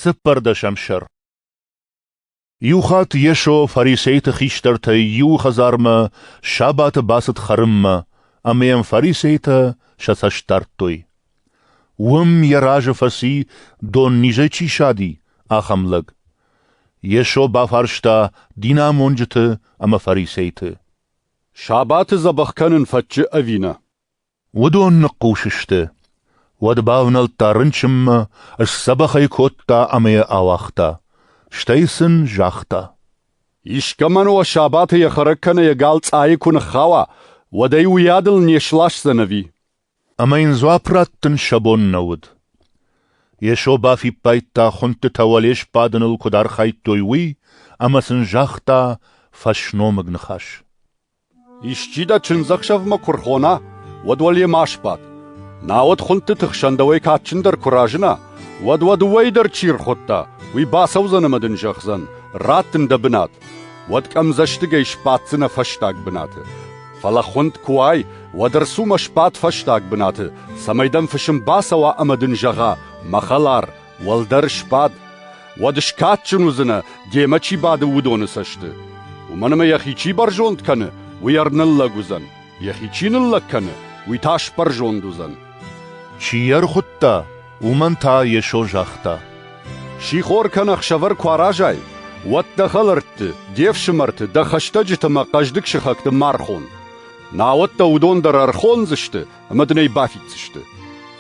Цыппӕрдӕсӕм сӕр Иу хатт Йесо фарисейты хистӕртӕй иуы хӕдзармӕ сабаты бацыд хӕрынмӕ, ӕмӕ йӕм фарисейтӕ сӕ цӕст дардтой. Уым йӕ разы фӕци, дон низӕй чи сади, ахӕм лӕг. Йесо бафарста динамонджыты ӕмӕ фарисейты. — Сабаты дзӕбӕх кӕнын фӕтчы ӕви нӕ? Уыдон ныхъхъус сты. Уӕд бавнӕлдта рынчынмӕ, сдзӕбӕх ӕй кодта ӕмӕ йӕ ауагъта. Стӕй сын загъта: «Искӕмӕн уӕ сабаты йӕ хӕрӕг кӕнӕ йӕ гал цъайы куы ныххауа, уӕд ӕй уыйадыл не сласдзӕн ӕви?» Ӕмӕ йын дзуапп раттын сӕ бон нӕ уыд. Йесо бафиппайдта, хуындтытӕ уӕле сбадыныл куыд архайдтой, уый, ӕмӕ сын загъта фӕсномыг ныхас. Исчи дӕ чындзӕхсӕвмӕ куы рхона, уӕд уал йемӕ сбад. Науӕд хуындтыты хсӕн дӕуӕй кадджындӕр куы разына, уӕд уӕ дыууӕйы дӕр чи рхуыдта, уый бацӕудзӕн ӕмӕ дын зӕгъдзӕн: «Раттын дӕ бынат». Уӕд къӕмдзӕстыгӕй сбаддзынӕ фӕстаг бынаты. Фӕлӕ хуынд куы уай, уӕд ӕрцу-ма сбад фӕстаг бынаты, цӕмӕй дӕм фысым бацӕуа ӕмӕ дын зӕгъа: «Мӕ хӕлар, Уӕлдӕр сбад, уӕд скадджын уыдзынӕ, демӕ чи бады, уыдоны цӕсты. Уымӕн ӕмӕ йӕхи чи бӕрзонд кӕны, уый ӕрныллӕг уыдзӕн, йӕхи чи ныллӕг кӕны, уый та сбӕрзонд уыдзӕн. Чи йӕ ӕрхуыдта, уымӕн та Йесо загъта. Сихор кӕнӕ ӕхсӕвӕр куы аразай, уӕд дӕ хӕлӕртты, де фсымӕрты, дӕ хӕстӕджыты ӕмӕ хъӕздыг сыхӕгты ма рхон. Науӕд дӕ уыдон дӕр ӕрхондзысты ӕмӕ дын ӕй бафиддзысты.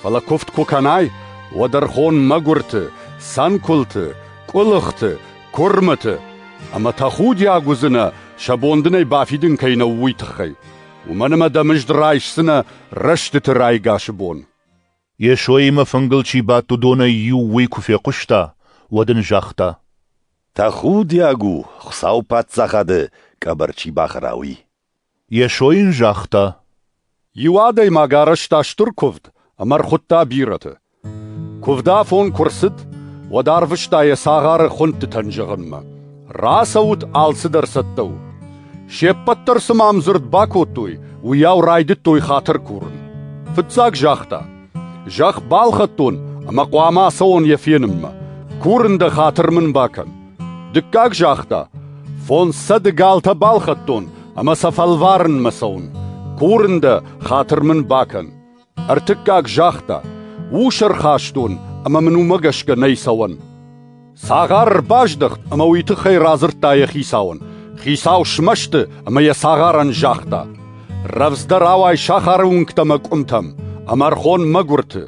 Фӕлӕ куывд куы кӕнай, уӕд ӕрхон мӕгуырты, цӕнкуылты, къуылыхты, куырмыты ӕмӕ тӕхудиаг уыдзынӕ, сӕ бон дын ӕй бафидын кӕй нӕу, уый тыххӕй. Уымӕн ӕмӕ дӕ мызд райсдзынӕ рӕстыты райгасы бон. Йесоимӕ фынгыл чи бадт, уыдонӕй иу уый куы фехъуыста, уӕд ын загъта. Тӕхудиаг у, Хуыцауы Паддзахады къӕбӕр чи бахӕра, уый. Йесо йын загъта: Иу адӕймаг арӕзта стыр куывд ӕмӕ ӕрхуыдта бирӕты. Куывдафон куы рцыд, уӕд арвыста йӕ цагъары хуындтытӕн зӕгъынмӕ: «Рацӕут, алцыдӕр цӕттӕ у!» Се ппӕт дӕр цы ма ӕмдзырд бакодтой, уыйау райдыдтой хатыр курын. Фыццаг загъта: «Зӕхх балхӕдтон ӕмӕ хъуамӕ ацӕуон йӕ фенынмӕ. Курын дӕ, хатыр мын бакӕн!» Дыккаг загъта: «Фондз цӕды галтӕ балхӕдтон ӕмӕ сӕ фӕлварынмӕ цӕуын. Курын дӕ, хатыр мын бакӕн». Ӕртыккаг загъта: «Ус ӕрхастон ӕмӕ мын уымӕ гӕсгӕ нӕй цӕуӕн». Цагъар ӕрбаздӕхт ӕмӕ уый тыххӕй радзырдта йӕ хицауӕн. Хицау смӕсты ӕмӕ йӕ цагъарӕн загъта: «Рӕвдздӕр ауай сахары уынгтӕ мӕ къуымтӕм, ӕмӕ ӕрхон мӕгуырты,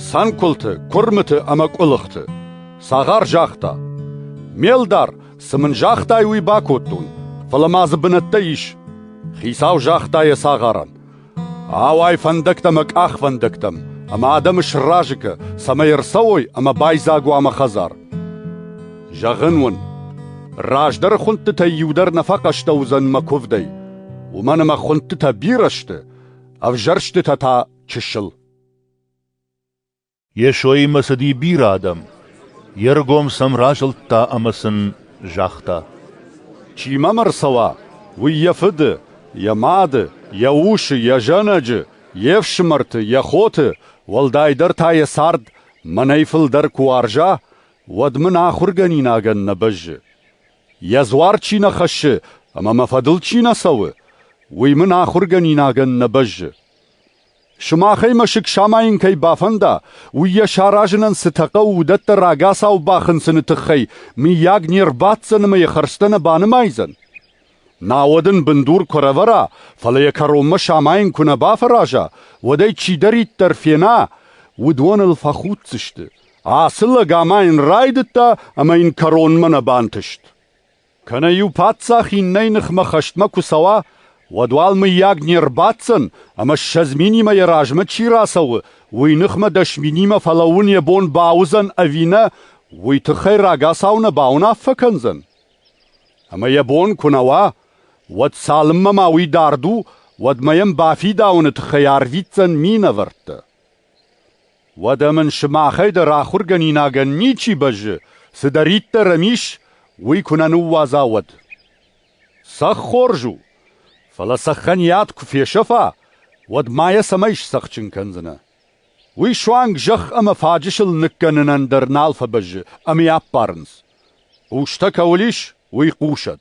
цӕнкуылты, куырмыты ӕмӕ къуылыхты». Цагъар загъта: Ме лдар, цы мын загътай, уый бакодтон, фӕлӕ ма дзы бынӕттӕ ис. Хицау загъта йӕ цагъарӕн: Ауай фӕндӕгтӕ мӕ къахвӕндӕгтӕм, ӕмӕ адӕмы сразы кӕ, цӕмӕй ӕрцӕуой ӕмӕ байдзаг уа мӕ хӕдзар. Зӕгъын уын, раздӕры хуындтытӕй иу дӕр нӕ фӕхъӕстӕ уыдзӕн мӕ куывдӕй, уымӕн ӕмӕ хуындтытӕ бирӕ сты, ӕвзӕрстытӕ та чысыл. Йесоимӕ цыди бирӕ адӕм. Йе ргом сӕм разылдта ӕмӕ сын загъта: «Чи мӕм ӕрцӕуа, уый йӕ фыды, йӕ мады, йӕ усы, йӕ зӕнӕджы, йе фсымӕрты, йӕ хоты, уӕлдайдӕр та йӕ цард мӕнӕй фылдӕр куы уарза, уӕд мын ахуыргӕнинагӕн нӕ бӕззы. Йӕ дзуар чи нӕ хӕссы ӕмӕ мӕ фӕдыл чи нӕ цӕуы, уый мын ахуыргӕнинагӕн нӕ бӕззы. Сымахӕй мӕсыг самайын кӕй бафӕнда, уый йӕ саразынӕн цытӕ хъӕуы, уыдӕттӕ рагацау бахынцыны тыххӕй, мыййаг, не рбаддзӕн ӕмӕ йӕ хӕрдзтӕ нӕ банымайдзӕн? Науӕд ын бындур куы ӕрӕвӕра, фӕлӕ йӕ кӕронмӕ самайын куы нӕ бафӕраза, уӕд ӕй чидӕриддӕр фена, уыдон ыл фӕхуддзысты. Ацы лӕг ама йын райдыдта ӕмӕ йын кӕронмӕ нӕ бантыст. Кӕнӕ-иу паддзах иннӕйы ныхмӕ хӕстмӕ куы цӕуа, уӕд уал, мыййаг, не рбаддзӕн, ӕмӕ ссӕдз минимӕ йӕ размӕ чи рацӕуы, уый ныхмӕ дӕс минимӕ фӕлӕууын йӕ бон бауыдзӕн ӕви нӕ, уый тыххӕй рагацау нӕ бауынаффӕ кӕндзӕн? Ӕмӕ йӕ бон куы нӕ уа, уӕд цалынмӕ ма уый дард у, уӕдмӕ йӕм бафидауыны тыххӕй арвитдзӕн минӕвӕрттӕ. Уӕдӕ мын сымахӕй дӕр ахуыргӕнинагӕн ничи бӕззы, цыдӕриддӕр ӕм ис, уый куы нӕ ныууадза, уӕд. Цӕхх хорз у, фӕлӕ цӕххӕн йад куы фесӕфа, уӕд ма йӕ цӕмӕй сцӕхджын кӕндзынӕ? Уый суанг зӕхх ӕмӕ фаджысыл ныккӕнынӕн дӕр нал фӕбӕззы ӕмӕ йӕ аппарынц. Хъустӕ кӕуыл ис, уый хъусӕд.